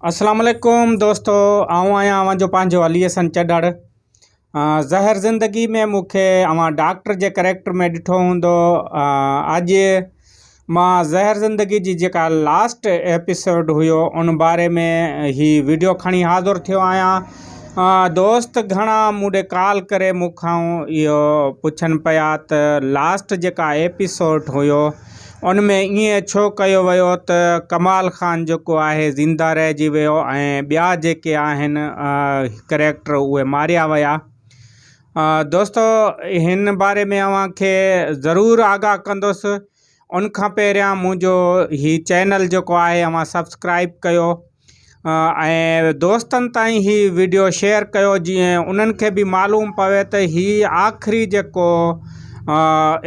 السلام عليڪم دوستو آئون آهيان اوهان جو پنهنجو علي حسن چڏڙ زهر زندگي ۾ مون کي اوهان ڊاڪٽر جي ڪريڪٽر ۾ ڏٺو هوندو اڄ مان زهر زندگي جي جيڪا لاسٽ ايپيسوڊ هيو ان باري ۾ هي ويڊيو کڻي حاضر ٿيو آهيان دوست گهڻا مون ڏي ڪال ڪري مون کان اهو پڇن پيا ته لاسٽ جيڪا ايپيسوڊ هيو ان ۾ ائين ڇو ڪيو ويو ته ڪمال خان جيڪو آهي زنده رهجي ويو ۽ ٻيا جيڪي آهن ڪريڪٽر اهي ماريا ويا دوستو هن باري ۾ اوهان کي ضرور آگاهه ڪندس ان کان پهريان منهنجو هي چينل جيڪو آهي اوهان سبسڪرائب ڪيو ۽ دوستن تائين هي ويڊيو شيئر ڪيو جيئن انهن کي به معلوم پوي ته هي آخري جيڪو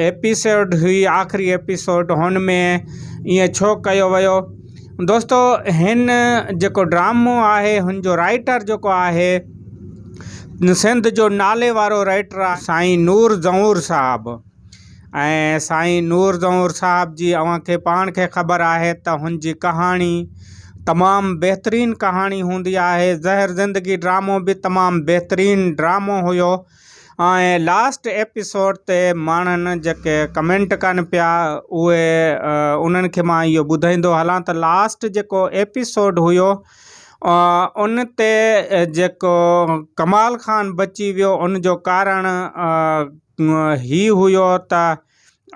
ايپيسوڊ هئي آخري ايپيسوڊ هن ۾ ائين ڇو ڪيو ويو دوستو هن جيڪو ڊرامو آهي هن جو رائٽر جيڪو آهي سنڌ جو نالي وارو رائٽر سائين نور زئور صاحب ۽ سائين نور زئور صاحب جي اوهان کي پاڻ کي خبر آهي ته هن جي ڪهاڻي تمام بهترين ڪهاڻي هوندي آهي زهر زندگي ڊرامو به تمام بهترين ڊرامو هيو ۽ لاسٽ ايپيسوڊ تي ماڻهن جيڪي ڪمينٽ ڪن پيا اهي انهن کي مان اهو ٻڌائيندو هلان ته لاسٽ جيڪو ايپيسوڊ هيو ان تي جيڪو ڪمال خان بچي ويو ان جو ڪارڻ هي هيو ته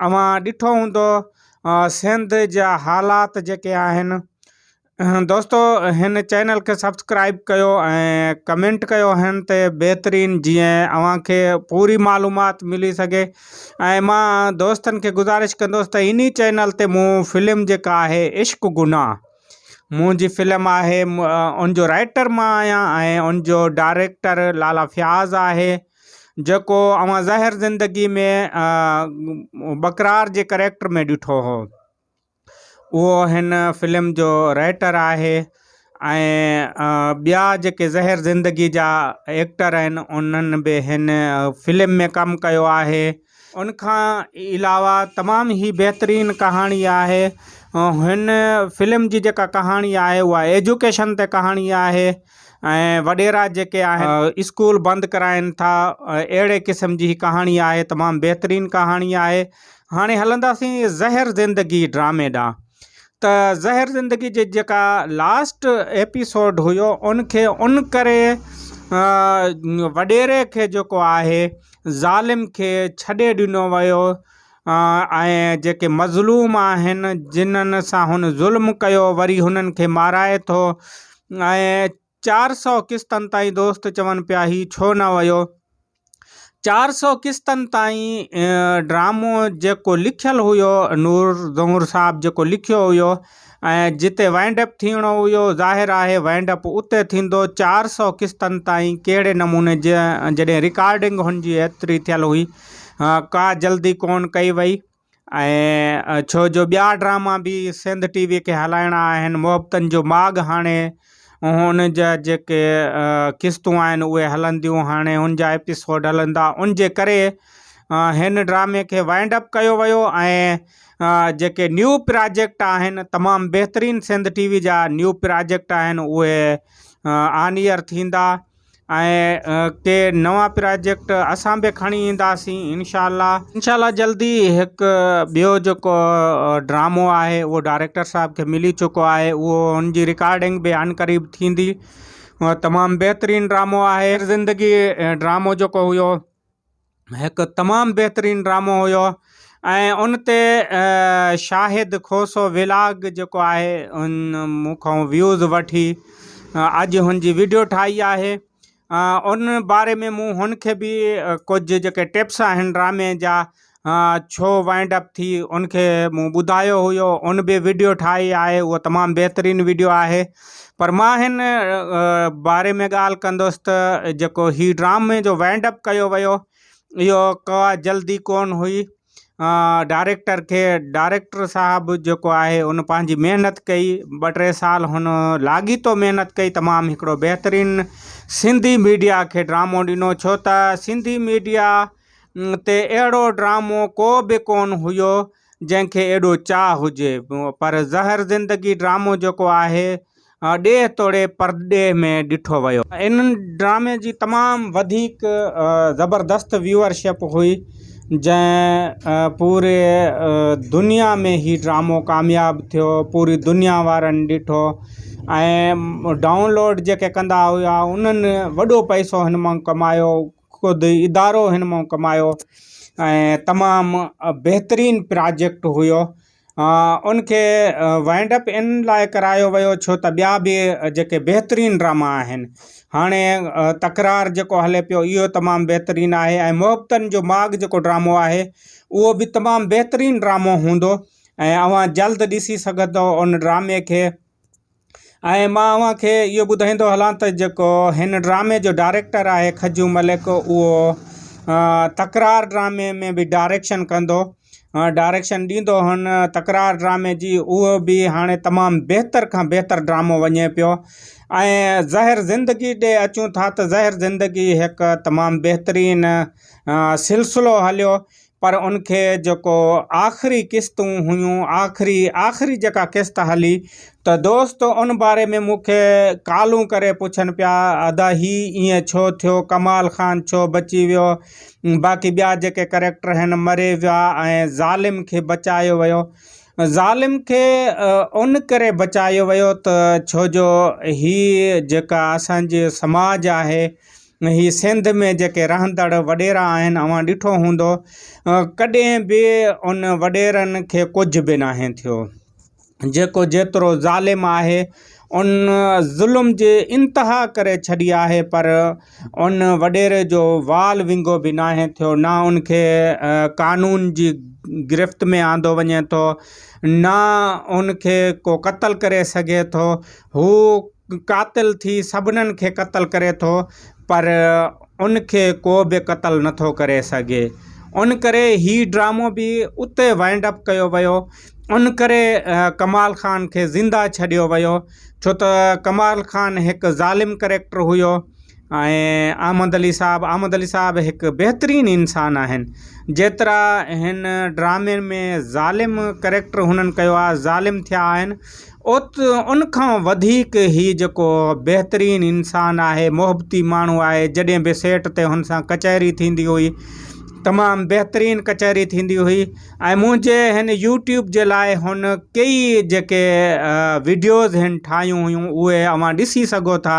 اوهان ڏٺو هوندو سنڌ جا حالات جيڪي آهن دوستو هن چينل کي سبسڪرائب ڪيو ۽ ڪمينٽ ڪيو هن تي بهترين جيئن اوهان کي پوري معلومات ملي سگهي ۽ مان دوستن کي گذارش ڪندوس ته اني چينل تي مون فلم جيڪا آهي عشق گناهه منهنجي فلم آهي ان جو رائٽر مان آهيان ۽ ان جو ڊائريڪٽر لالا فياض آهي جيڪو اوهان ظاهر زندگي ۾ ٻڪرار جي ڪريڪٽر ۾ ڏٺو هو اهو هن فلم جو رائيٽر آهي ۽ ٻيا جيڪي ظاهر زندگي جا ايڪٽر آهن انهن به هن فلم ۾ ڪم ڪيو آهي ان کان علاوه تمام هي بهترين ڪهاڻي آهي هن فلم جي جيڪا ڪهاڻي آهي اها ايجوڪيشن تي ڪهاڻي آهي ۽ وڏيرا جيڪي آهن اسڪول بند ڪرائين ٿا اهڙي قسم جي هي ڪهاڻي آهي تمام بهترين ڪهاڻي آهي هاڻي هلنداسين زهر زندگي ڊرامي ڏانهن ته زهر زندگي جي جيڪا لاسٽ ايپيسوڊ هيو ان کي ان ڪري وڏيري کي جيڪو آهي ظالم کي ڇڏي ڏنو ويو ۽ جيڪي مظلوم آهن جنن سان هن ظلم ڪيو وري هنن کي مارائي ٿو ۽ چار سؤ قسطن تائين دوست چون پيا هي ڇو نه ويو. چار سؤ قسطن تائين ڊرامو جيڪو لکيل هيو نور زهور صاحب جيڪو لکيو هيو ۽ جتي وائنڊ اپ ٿيڻو هيو ظاهر آهي وائنڊ اپ اتي ٿيندو چار سؤ قسطن تائين ڪهڙي نموني جي جڏهن رڪارڊنگ هن جي ايتري ٿيل هئي ڪا جلدي ڪون ڪئي وئي. ۽ ڇو جو ٻيا ڊراما به سنڌ ٽي وي کي هلائڻا آهن محبتن جو ماڳ هاڻي هن جا جيڪي قسطون آهن اهي هلنديون هاڻي هن جا ايپيسوڊ هلندا ان جي ڪري هن ڊرامي کي وائنڊ اپ ڪيو ويو ۽ جيڪي نيو پراجيڪٽ آهن تمام بهترين سنڌ ٽي وي جا نيو پراجيڪٽ آهن اهي آن ايئر ٿيندا ۽ ڪي نوان پراجيڪٽ اسان به کڻي اينداسين انشاء الله انشاء الله جلدي هڪ ٻيو جيڪو ڊرامو آهي اهو ڊائريڪٽر صاحب کي ملي چڪو آهي اهو ان جي رڪارڊنگ به عن قريب ٿيندي تمام بهترين ڊرامو آهي زندگي ڊرامو جيڪو هيو هڪ تمام بهترين ڊرامو هيو ۽ ان تي شاهد کوسو ولاگ جيڪو آهي ان مون کان ويوز وٺي اڄ هن جي ويڊيو ٺاهي آهي ان باري ۾ مون هن کي به ڪجهه جيڪي ٽپس آهن ڊرامي جا ڇو وائنڊ اپ ٿي ان کي مون ٻڌايو هيو ان به ويڊيو ٺاهي آهي هو تمام بهترين ويڊيو آهي پر مان هن باري ۾ ڳالهه ڪندس ته جيڪو هي ڊرامي جو وائنڊ اپ ڪيو ويو اهو ڪا جلدي ڪونه هئي ڊائريڪٽر کي ڊائريڪٽر صاحب جيڪو آهي ان پنهنجي محنت ڪئي ٻه ٽي سال هن لاڳيتو محنت ڪئي تمام هڪڙو بهترين سنڌي ميڊيا کي ڊرامو ڏنو ڇو ته سنڌي ميڊيا تي اهڙو ڊرامو ڪو به ڪونه هيو جنهن کي ايڏو چاهه هجي. پر زهر زندگي ڊرامو جيڪو آهي ڏيهه توڙي پرڏيهه ۾ ڏٺو ويو. ان ڊرامي جي تمام وڌيڪ زبردست ويوئر شپ هئي جنهن پوري دنيا ۾ هي ڊرامو ڪامياب ٿيو پوري دنيا وارن ڏٺو ۽ ڊائونلوڊ جيڪي ڪندا هيا انهن وڏو پئسو هن مان ڪمايو. خود ادارو هن مان ڪمايو ۽ تمام بهترين پراجيڪٽ هيو ان کي وائنڊ اپ ان لاء ڪرايو ويو ڇو ته ٻيا به جيڪي بهترين ڊراما آهن هاڻي تڪرار جيڪو هلي پيو اهو تمام بهترين آهي ۽ محبتن جو ماڳ جيڪو ڊرامو آهي اهو به تمام بهترين ڊرامو هوندو ۽ اوهان جلد ڏسي سگهندو ان ڊرامي کي ۽ مان اوهان کي اهو ٻڌائيندو هلان ته جيڪو هن ڊرامي جو ڊائريڪٽر آهي کجو ملڪ اهو تڪرار ڊرامي ۾ به ڊائريڪشن ڪندو ڊائريڪشن ڏيندو هن تڪرار ڊرامي جي اهو به هاڻي تمامु بهتر کان بهتر ڊرامو وڃي پيو ۽ زهر زندگي ڏي اچون ٿا ته زهر زندگي هڪ تمامु بهترين سلسلو هليو پر ان کي جيڪو آخري قسطون هيون آخري آخري جيڪا قسط هلي ته دوست ان باري ۾ مون کي ڪالون ڪري پڇن پيا ادا هي ائين ڇو ٿيو ڪمال خان ڇو بچي ويو باقي ٻيا جيڪي ڪريڪٽر هن مري ويا ۽ ظالم کي بچايو ويو ظالم کي ان ڪري بچايو ويو ته ڇو جو هي جيڪا اسانجي سماج آهي هي سنڌ ۾ جيڪي رهندڙ وڏيرا آهن اوهان ڏٺو هوندو ڪڏهن به ان وڏيرن کي ڪجهه به ناهي ٿيو جيڪو جيترو ظالم آهي ان ظلم جي انتها ڪري ڇڏي آهي پر ان وڏيري جو وال ونگو به ناهي ٿيو نه ان کي قانون جي گرفت ۾ آندو وڃي ٿو نه ان کي ڪو قتل ڪري سگهي ٿو هو قاتل ٿي سڀنن کي قتل ڪري ٿو پر ان کي ڪو به قتل نٿو ڪري سگهي ان ڪري هي ڊرامو به اتي وائنڊ اپ ڪيو ويو ان ڪري ڪمال خان کي زنده ڇڏيو ويو ڇو ته ڪمال خان هڪ ظالم ڪريڪٽر هيو ۽ احمد علي صاحب احمد علي صاحب هڪ بهترين انسان آهن جيترا هن ڊرامي ۾ ظالم ڪريڪٽر هنن ڪيو آهي ظالم ٿيا آهن اوت ان کان وڌيڪ هي جيڪو بهترين انسان آهي محبتي ماڻهو آهي جڏهن به سيٽ تي هن سان ڪچهري ٿيندي هئي تمام بهترين ڪچهري ٿيندي هئي ۽ منهنجي هن يوٽيوب جي لاء هن ڪيئي جيڪي ويڊيوز هن ٺاهيون هيون اهي اوهان ڏسي سگهو ٿا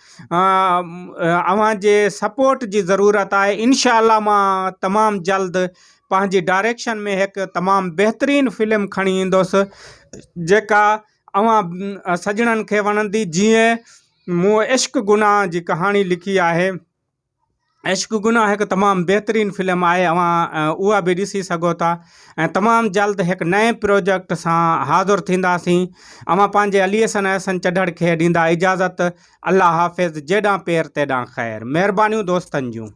اوهان جي سپورٽ جي ضرورت آهي انشاء الله مان تمام جلد پنهنجي ڊائريڪشن ۾ هڪ تمام بهترين فلم کڻي ايندس جيڪا اوهان سڄڻن کي وڻندي جيئن مون عشق گناهه جي ڪهاڻي لکي آهي عشق گناھ هڪ تمام بهترين فلم آهي اوهان اها به ڏسي سگهو ٿا ۽ تمام جلد هڪ نئين پروجيڪٽ سان حاضر ٿينداسين اوهان پنهنجي علي حسن احسن چڍڙ کي ڏيندا اجازت الله حافظ جيڏان پير تيڏان خير مهربانيون دوستن جون.